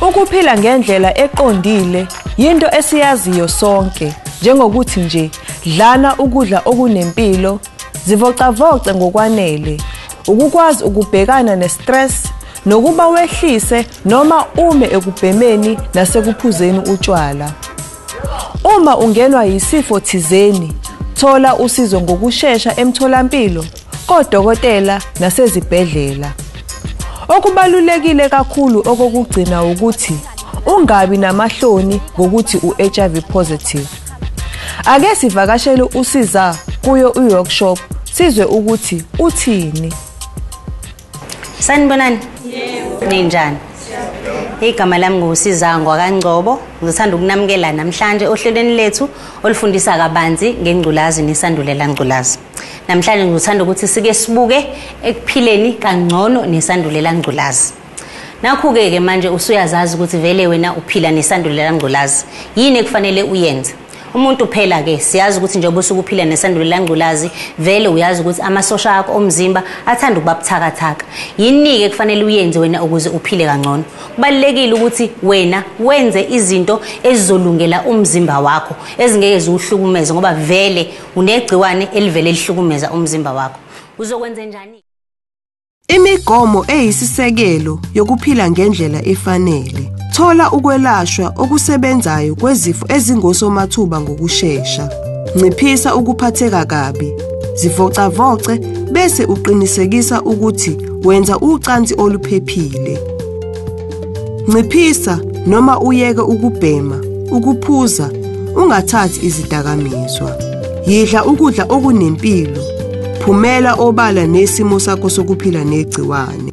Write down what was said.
Ukuphila ngendlela eqondile yinto esiyaziyo sonke njengokuthi nje dlana ukudla okunempilo Zivocavoce ngokwanele ukukwazi ukubhekana nestress nokuba wehlise noma ume ekubhemeni nasekuphuzeni utshwala. Uma ungenwa yisifo thizeni, thola usizo ngokushesha emtholampilo, kodokotela nasezibhedlela. Okubalulekile kakhulu okokugcina ukuthi ungabi namahloni ngokuthi u-HIV positive. Ake sivakashele usiza kuyo uworkshop sizwe ukuthi uthini. Sanibonani? Yebo. Ninjani? Igama lami nguSizangwa kaNgcobo. Ngithanda ukunamukela namhlanje ohlelweni lethu olifundisa kabanzi ngengculazi nesandulela ngculazi. Namhlanje ngithanda ukuthi sike sibuke ekuphileni kangcono nesandulela ngculazi. Nakhu-ke ke manje usuyazazi ukuthi vele wena uphila nesandulela ngculazi. Yini ekufanele uyenze? Umuntu phela ke siyazi ukuthi njengoba usuke uphila nesandulela ngculazi vele uyazi ukuthi amasosha akho omzimba athanda ukuba buthakathaka. Yini-ke ekufanele uyenze wena ukuze uphile kangcono? Kubalulekile ukuthi wena wenze izinto ezizolungela umzimba wakho ezingeke ziwuhlukumeze ngoba vele unegciwane elivele lihlukumeza umzimba wakho. Uzokwenze njani? Imigomo eyisisekelo yokuphila ngendlela efanele. Thola ukwelashwa okusebenzayo kwezifo ezingosomathuba ngokushesha. Nciphisa ukuphatheka kabi. Zivocavoce bese uqinisekisa ukuthi wenza ucansi oluphephile. Nciphisa noma uyeke ukubhema, ukuphuza, ungathathi izidakamizwa. Yidla ukudla okunempilo. Phumela obala nesimo sakho sokuphila negciwane.